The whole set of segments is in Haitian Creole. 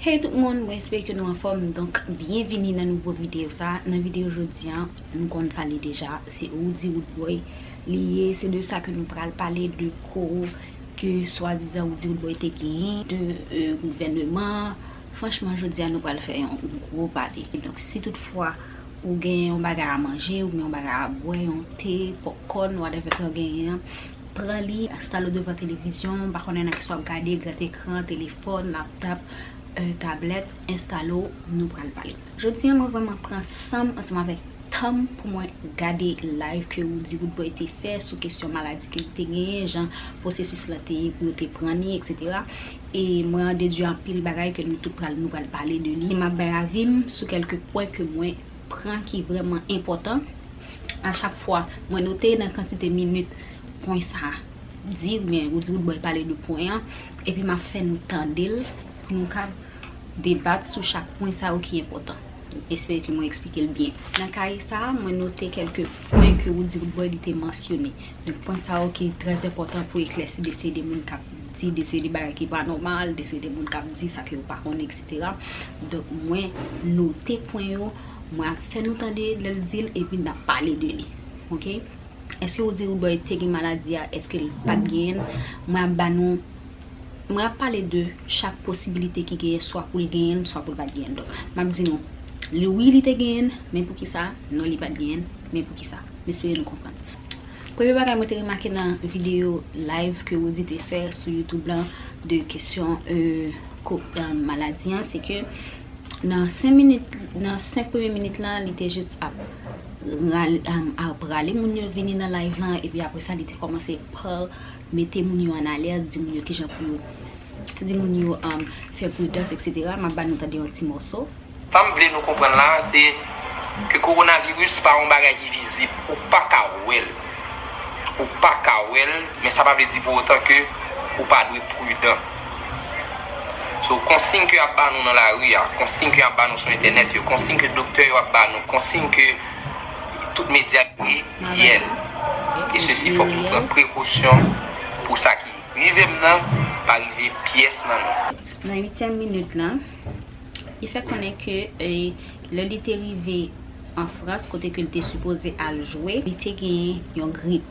Hey tout moun mwen espere ke nou anfòm donk byenvini nan nouvo video sa nan video jodi an nou konn sa li deja se Roody Roodboy li ye se de sa ke nou pral pale de ko ke swadizan Roody Roodboy te genyen de gouvèneman an franchman jodi an nou pral fè yon gwo pale donk si tout fwa ou gen yon bagay a manje ou gen yon bagay a bwè yon te popcorn whatever ke ou genyen an. Pran li, enstale w devan televizyon, m pa konnen nan kisa w ap gade, gran ekran, telefòn, laptòp, tablèt, enstale w, nou pral pale. Jodi an mwen vrèman pran san m ansanm avèk tan m pou mwen gade live ke Roody Roodboy te fè sou kesyon maladi ke li te genyen, jan pwosesis la te ye pou yo te pran li etc. E mwen an dedwi anpil bagay ke nou tout pral nou pral pale de li. M ap bay avi m sou kèlke pwen ke mwen. pran ki vrèman enpòtan a chak fwa mwen note nan kantite minit pwen sa a di ou byen ou di wout bòy pale de pwen an epi m ap fè nou tande l pou nou ka debat sou chak pwen sa yo ki enpòtan m espere ke mwen eksplike l byen nan kaye sa a mwen note kèlke pwen ke ou di wout bòy li te mansyone donk pwen sa yo ki trè enpòtan pou eklèsi de se de moun k ap di de se de bagay ki pa nòmal de se de moun k ap di sa ke yo pa konnen. Donk mwen note pwen yo, mwen ap fè nou tande lè l di l epi n ap pale de li. Ok. Èske ou di Rudoy te gen maladi a? Èske l pa t genyen l? Mwen ap ba nou, mwen ap pale de chak posibilite ki genyen swa pou l genyen l swa pou l pa t genyen l. Donk m ap di nou, wi li te genyen l, men poukisa? Non li pa t genyen l, men poukisa? M espere nou konprann. Premye bagay mwen te remake nan video live ke Roody te fè sou YouTube lan de kesyon maladi an, se ke nan 5 premye minit lan li te jis ap rale moun yo vini nan live lan epi apresa li te komanse par mete moun yo an alèz, di moun yo kijan pou yo, di moun yo fè pridans etc. Map ba nou tande yon ti mòso. Sa m vle nou konprann la a se ke kowonaviris pa yon bagay ki vizib, ou pa ka wè l, ou pa ka wè l, men sa pa vle di pou otan ke ou pa dwe pridan. So konsign ke y ap ba nou nan lari a, konsign ke y ap ba nou sou entènèt yo, konsign ke doktè yo ap ba nou, konsign ke. Tout medya k di yel. E sesi fok nou pran prekosyon pou sa ki rive m nan pa rive pyes nan nou. Nan uityèm minit la, li fè konnen ke lè li te rive an Frans kote ke li te sipoze al jwe, li te genyen yon grip.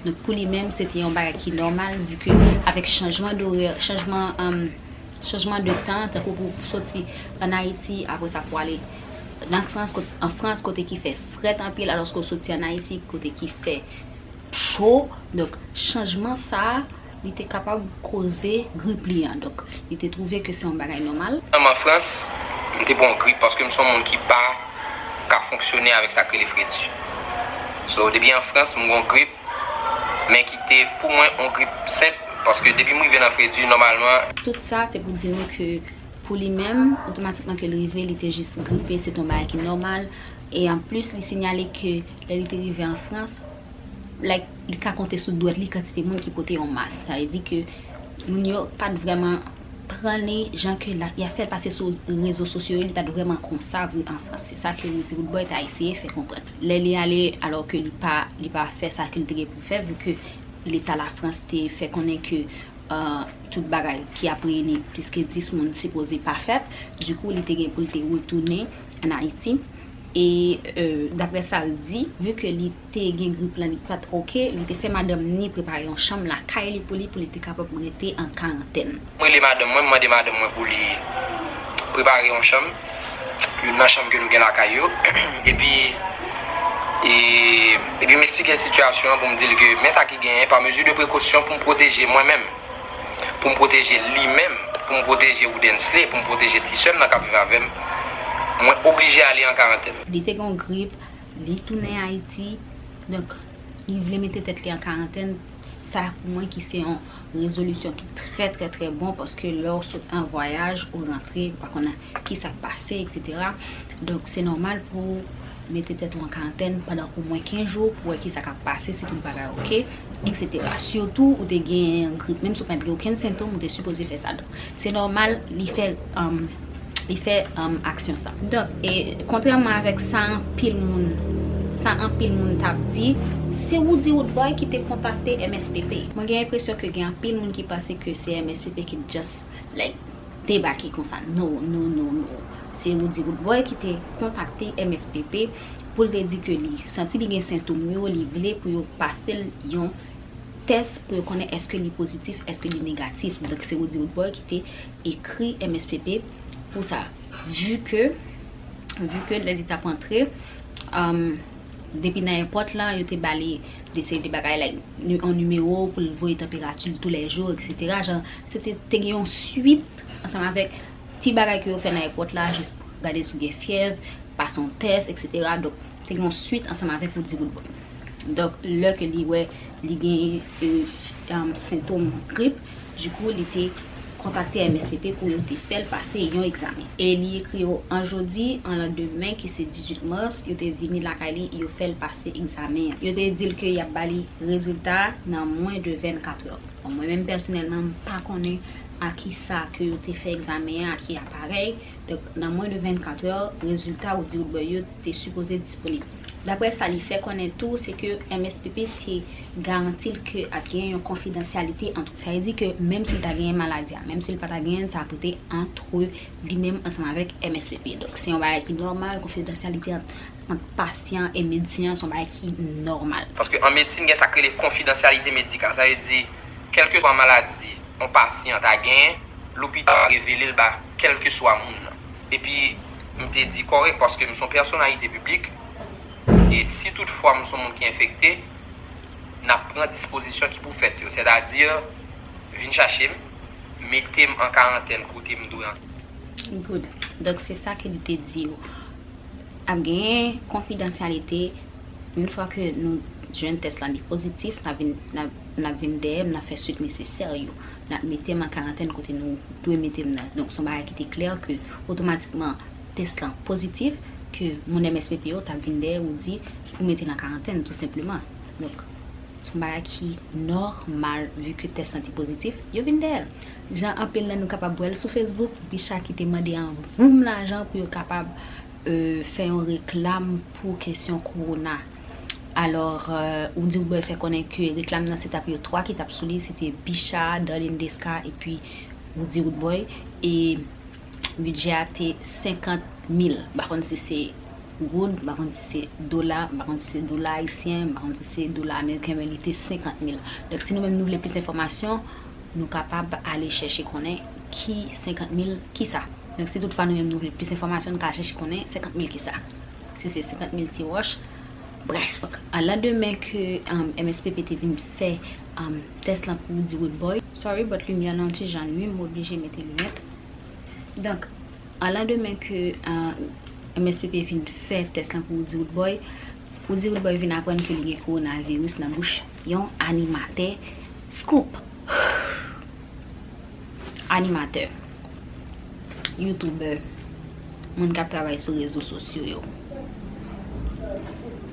Donk pou li menm se te yon bagay ki nòmal vu ke avèk chanjman dorè, chanjman de tan tankou pou soti an Ayiti apre sa pou ale. Nan Frans, an Frans kote ki fè frèt anpil alòske ou soti an Ayiti kote ki fè cho. Donk, chanjman sa a, li te kapab koze grip li an. Donk, li te twouve ke se yon bagay nòmal. An an Frans, m te pran yon grip paske m se yon moun ki pa ka fonksyone avèk sa k rele fredi. So, depi an Frans, m gen yon grip, men ki te pou mwen yon grip senp paske depi m rive nan fredi, nòmalman. Tout sa, se pou di nou ke. Pou li menm, otomatikman ke l rive, li te jis gripe, se te yon bagay ki nòmal. E an plis, li sinyale ke lè li te rive an Frans, like, li ka konte sou dwèt li kantite moun ki pote yon mask. Sa vle di ke moun yo pa t vrèman pran li jan ke y ap fè l pase sou rezo sosyo yo, li pa t vrèman konsa vre an Frans. Se sa ke Rudy Roodboy ta eseye fè konprann. Lè li ale, alò ke li pa fè sa ke li te gen pou l fè, vu ke Leta Lafrans te fè konnen ke. tout bagay ki ap reyini plis ke 10 moun sipoze pa fèt, dikou li te gen pou li te retounen an Ayiti, e daprè sa l di, vu ke li te gen grip lan li pat ok, li te fè madanm ni prepare yon chanm lakay li pou li, pou li te kapab rete an karantèn. M rele madanm mwen, m mande madanm mwen pou li prepare yon chanm. youn nan chanm ke nou gen lakay yo, epi epi m eksplike l sitiyasyon an pou m di l ke men sa ki genyen, pa mezi de prekosyon pou m pwoteje mwen menm, pou m pwoteje li menm, pou m pwoteje Woodensley, pou m pwoteje ti sè m nan k ap viv avè m, mwen oblije ale an karantèn. Li te gen yon grip, li tounen Ayiti, donk li vle mete tèt li an karantèn, sa pou mwen ki se yon. Rezolisyon ki trè trè trè bon paske lè ou sot an vwayaj ou rantre ou pa konnen ki sa k pase etc. Donk se nòmal pou ou mete tèt ou an karantèn pandan omwen 15 jou pou wè ki sa k ap pase si tout bagay ok etc. Sitou ou te gen grip menm si ou pa t gen okenn sentom ou te sipoze fè sa. Se nòmal li fè li fè aksyon sa. Donk, kontrèman avèk sa anpil moun sa anpil moun t ap di, se Roody Roodboy ki te kontakte MSPP. Mwen gen enpresyon ke gen anpil moun ki panse ke se MSPP ki t just like debake konsa. No, no, no, no. Se Roody Roodboy ki te kontakte MSPP pou l te di ke li santi li gen sentoum yo, li vle pou yo pase l yon. tès pou yo konnen eske li pozitif eske li negatif donk se Roody Roodboy ki te ekri mspp pou sa vu ke vu ke lè li tap antre depi nan èpòt lan yo te bali de seri de bagay like yon nimewo pou l voye tanperati l tou lè jou eksetera jan se te te gen yon swit ansanm avèk ti bagay ke yo fè nan èpòt la jis pou gade si w gen fyèv pase yon tès eksetera donk Te gen yon swit ansanm avèk ou di gout bon. Donk lè ke li wè li gen sentom grip, di kou li te kontakte MSPP pou yo te fèl pase yon egzamen. E li ekri yo an jodi, an lan demen ki se 18 mars, yo te vini lakay li, yo fèl pase egzamen an. Yo te dil ke yap ba li rezilta a nan mwen de 24 lò. Bon mwen menm pèsonèlman m pa konnen a kisa ke yo te fè egzamen an, a ki aparèy. Donk, nan mwen de 24 è, rezilta Audi Woodbury yo te sipoze disponib. Daprè sa li fè konnen tou, se ke mspp te garanti l ke ap gen yon konfidansyalite ant ou. Sa vle di ke menm si l ta genyen maladi a, menm si l pa ta genyen l, sa ap rete antre li menm ansanm avèk mspp. Donk, se yon bagay ki nòmal, konfidansyalite ant pasyan e medsen an se yon bagay ki nòmal. Paske an medsin gen sa k rele konfidansyalite medikal. Sa vle di, kèlkeswa maladi yon pasyan ta genyen, lopital ap revele l ba. kèlkeswa moun nan. Epi, m te di kòrèk paske m s on pèsonalite piblik e si tout fwa m s on moun ki enfekte, n ap pran dispozisyon ki pou fèt yo. Sètadi, vin chache m, mete m an karantèn kote m dwe an. Good. Donk se sa ke li te di yo. Ap genyen konfidansyalite, yon fwa ke nou jwenn tès la li pozitif, n ap vin dèyè m, n ap fè suit nesesè yo. N ap mete m an karantèn kote nou dwe mete m nan. Donk, s on bagay ki te klè ke otomatikman tès lan pozitif, ke moun MSPP yo t ap vin dèyè ou di ou mete l an karantèn tou senpleman. Donk, s on bagay ki nòmal vi ke tès lan te pozitif, yo vin dèyè l. Jan anpil nan nou kapab wè l sou Facebook, Bicha ki te mande an voum lajan pou yo kapab fè yon reklam pou kesyon kowona. Alors ou di ou bwè fè konnen ke reklam nan se tap yo 3 ki tap sou li se te Bicha, Darline Desca epi Woody Roodboy e bidjè a te 50 mil m pa konn si se goud, m pa konn si se dola, m pa konn si se dola ayisyen, m pa konn si se dola ameriken men li te 50 mil. Donk si nou menm nou vle plis enfòmasyon nou kapab ale chèche konnen ki 50 mil kisa. Donk si tout fwa nou menm nou vle plis enfòmasyon nou ka al chèche konnen 50 mil kisa. Se se 50 mil ti wòch. Brèf, a landemen ke mspp te vin fè tès lan pou di woodboy. Sorry but limyè lan ti jan nwi m oblije mete linèt. Donk, a landemen ke mspp vin fè tès lan pou di woodboy, pou di woodboy vin aprann ke li gen kowonaviris nan bouch yon animatè. Scoop! Animatè. youtubè, moun k ap travay sou rezo sosyo yo.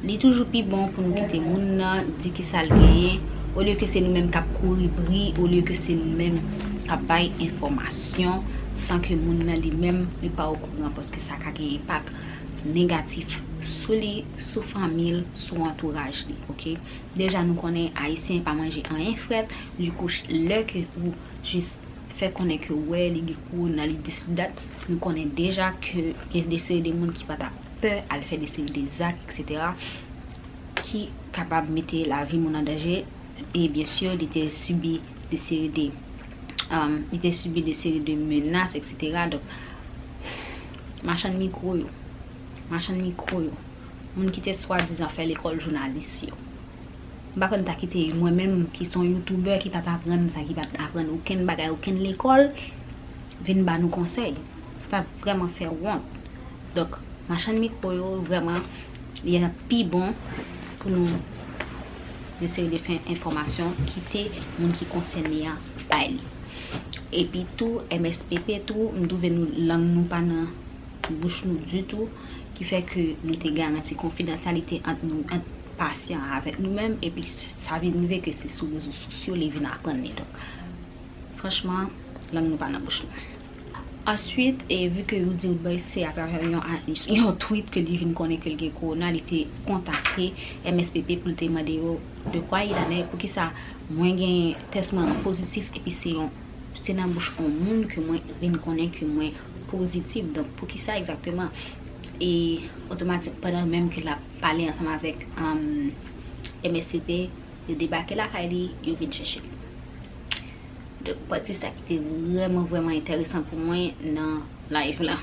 Li toujou pi bon pou nou kite moun nan di ki sa l genyen, olye ke se nou menm k ap kouri bri, olye ke se nou menm k ap bay enfòmasyon, san ke moun nan li menm li pa okouran, paske sa ka gen enpak negatif sou li, sou fanmi l, sou antouraj li, ok. Deja nou konnen Ayisyen pa manje anyen frèt, di kouch lè ke ou jis fè konnen ke wè li gen kowona li di sou dat nou konnen deja ke gen de seri de moun ki pa ta pè al fè de seri de zak etc ki kapab mete lavi moun an danje e byen sur li te sibi de seri de li te sibi de seri de menas etc donk machann mikro yo machann mikro yo moun ki te swadizan fè lekòl jounalis yo. M pa kwè m ta kite mwen menm ki son youtubè ki pat aprann sa ki pat aprann okenn bagay okenn lekòl vin ba nou konsèy sa ta vrèman fè wont donk machann mikro yo vrèman li ta pi bon pou nou eseye de fè enfòmasyon kite moun ki konsène an bay li epi tou mspp tou m twouve nou lang nou pa nan bouch nou ditou ki fè ke nou te garanti konfidansyalite ant nou ant pasyan an avèk nou menm epi sa vin rive ke se sou rezo sosyo li vin aprann li donk franchman lang nou pa nan bouch nou answit e vu ke ou diw bay se atravè yon tweet ke li vin konnen kel gen kowona li te kontakte MSPP poul te mande yo de kwa il anè pou kisa mwen gen tès mwen an pozitif epi se yon se nan bouch yon moun ke mwen vin konnen ke mwen. Pozitif, donk pou ki sa egzakteman? E otomatik pandan menm ke l ap pale ansanm avèk msvp, yo debake lakay li, yo vin chèche l. Donk pati sa ki te vrèman vrèman enteresan pou mwen nan live la.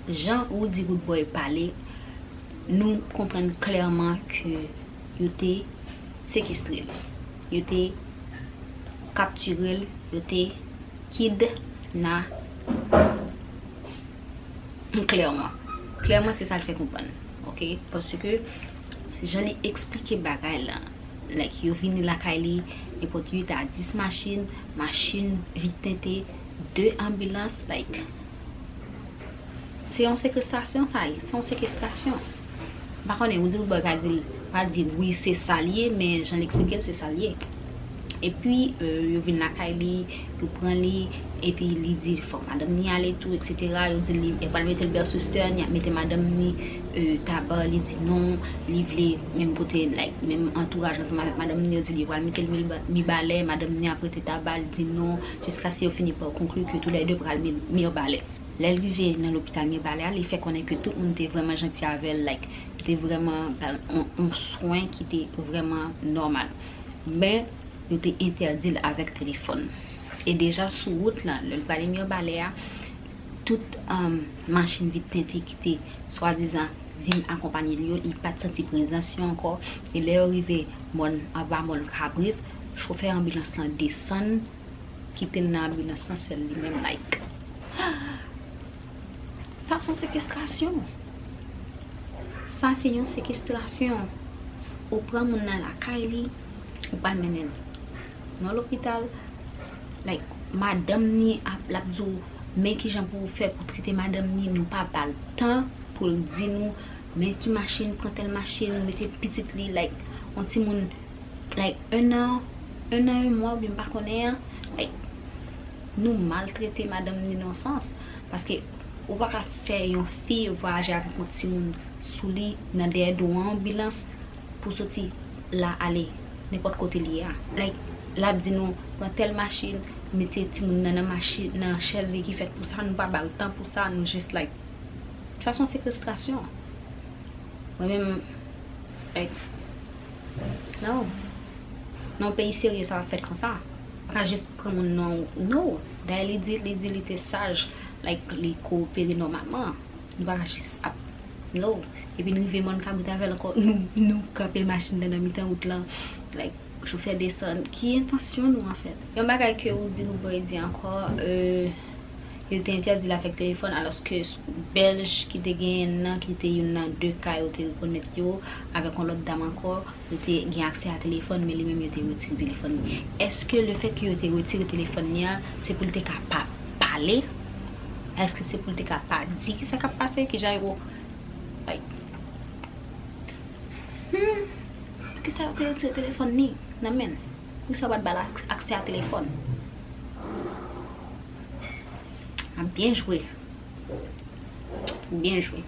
Jan Roody Roodboy pale, nou konprann klèman ke yo te sekestre l. yo te kaptire l, yo te kid na p klèman. Klèman se sa l fè konprann. Ok? Paske jan li eksplike bagay la, like yo vini lakay li, yo pot 8 a 10 machin, machin vit tente, 2 anbilans, like. Se yon sekrestasyon sa ye, se yon sekestasyon. M pa konnen, ou di Roodboy pa di l, pa di wi se sa l ye, men jan l eksplike l se sa l ye. Epi yo vin lakay li, yo pran li, epi li di fòk madanm ni ale tou eksetera, yo di l yo pral mete l bèsistèn, y ap mete madanm ni taba, li di non, li vle menm kote like menm antouraj ansanm avèk madanm ni, yo di l yo pral mete l mibalè, madanm ni ap rete taba, li di non, jiskaske yo fini pa konkli ke tou lè de pral mibalè. Lè l rive nan lopital Mirebalais a, li fè konnen ke tout moun te vrèman janti avè l, like, te vrèman ba l yon swen ki te vrèman nòmal. Men, yo te entèdi l avèk telefòn. E deja sou wout la, lè l prale Mirebalais a, tout machin vit tente ki te swadizan vin akonpanye l yo, li pa t santi prezans yo ankò. E lè yo rive mòn, anba mòn kabrit, chofè anbilans lan desann. Kitel nan abri nan san sèl li menm like. Sa son sekestrasyon. Sa se yon sekestrasyon. Ou pran moun nan lakay li, ou pral mennenl nan lopital. Like madanm ni ap lap di w men kijan pou w fè pou trete madanm ni, nou pa bal tan poul di nou men ki machin, pran tèl machin, mete pitit li like yon timoun. like 1 an 1 an 1 mwa oubyen m pa konnen an like nou maltrete madanm ni nan sans paske ou pa ka fè yon fi vwayaje avèk yon timoun sou li nan dèyè do an anbilans pou soti la ale nenpòt kote li ye a like l ap di nou pran tèl machin mete timoun nan nan machin nan chèz li ki fèt pou sa nou pa ba l tan pou sa nou jis like tout fason sekestrasyon mwen menm like. No Nan yon peyi serye sa pap fèt konsa Ou paka jis pran moun non No Dayè li di li di li te saj Like li kowopere nòmalman Nou paka jis ap No Depi n rive mòn kabrit avèl ankò nou nou kanpe machin nan nan mitan wout lan Like chofè desann Ki entansyon nou anfèt Yon bagay ke ou di nou poko di ankò euh. yo te entèdi l avèk telefòn alòske Bèlj ki te genyen l nan ki te youn nan 2 ka yo te rekonèt yo avèk yon lòt dam ankò yo te gen aksè a telefòn men li menm yo te retire telefòn li. Èske lefèt ke yo te retire telefòn li an se pou l te ka pa pale? Èske se pou l te ka pa di kisa k ap pase? Kijan yo like Humm poukisa yo te retire telefòn li nan men l? Pou sa pat bal aksè a telefòn. Map byen jwe. Byen jwe.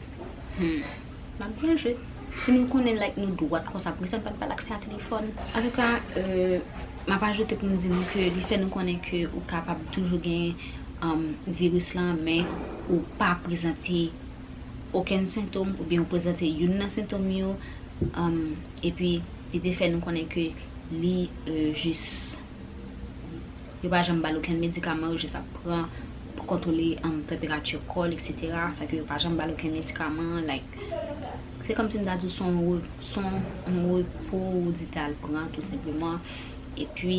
Map byen jwe. Si nou konnen like nou dwat konsa pou kisa nou pat bal aksè a telefòn. An tou ka map ajoute pou m di nou ke li fè nou konnen ke ou kapab toujou gen viris la men ou pa prezante okenn sentom oubyen ou prezante youn nan sentom yo epi li te fè nou konnen ke Li jis yo pa janm bal okenn medikaman yo jis ap pran pou kontwole tanperati kò l etc sa ke yo pa janm bal okenn medikaman like se kòm si m ta di w son son yon repo ou di ta al pran tou senpleman epi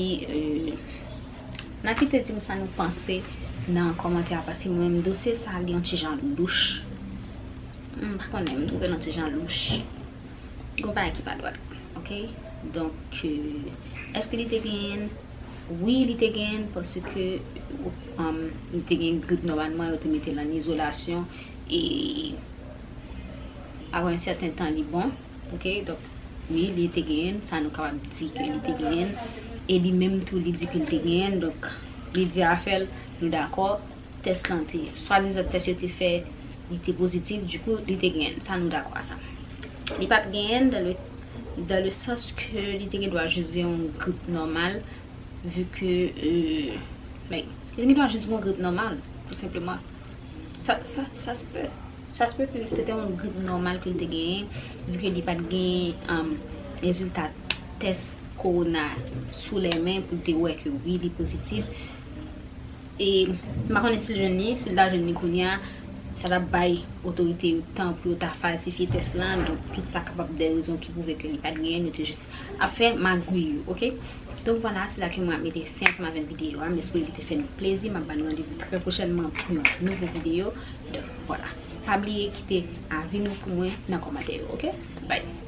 nan kite di m sa nou panse nan kòmantè a paske mwen menm dosye sa li yon ti jan louch m pa konnen m twouve l yon ti jan louch. Gon bagay ki pa dwat ok donk eske li te genyenn wi li te genyenn paske li te genyenn grip nòmalman yo te metel an izolasyon e aprè yon sèten tan li bon ok donk wi li te genyenn sa nou kapab di ke li te genyenn e li menm tou li di ke li te genyenn donk li di afèl nou dakò Tès lan te, swadizan tès yo te fè li te pozitif, di kou li te genyen, sa nou dakò a sa. Li pa t genyen dan le, dan le sans ke li te gen dwa jis gen yon grip nòmal, vi ke, like, li te gen dwa jis gen yon grip nòmal, tou senpleman. Sa, sa, sa se pe, sa se pe ke se te yon grip nòmal ke li te genyen, vi ke li pa t genyen rezilta tès kowona sou lè men pou l te wè ke wi li pozitif. E m pa konnen si l jwenn li, si l ta jwenn li kounye a, sa t ap bay otorite yo tan pou yo ta falsifye tès lan, donk tout sa kapab de rezon ki pwouve ke li pa t genyen, yo te jis ap fè magwiy yo, ok. Donk vwala, se la ke mwen ap mete fen ansanm avèk videyo a, m espere li te fè nou plezi, m ap ba nou randevou trè pwochènman pou yon nouvo videyo, donk vwala. Pa bliye kite avi nou pou mwen nan kòmantè yo, ok. Bye!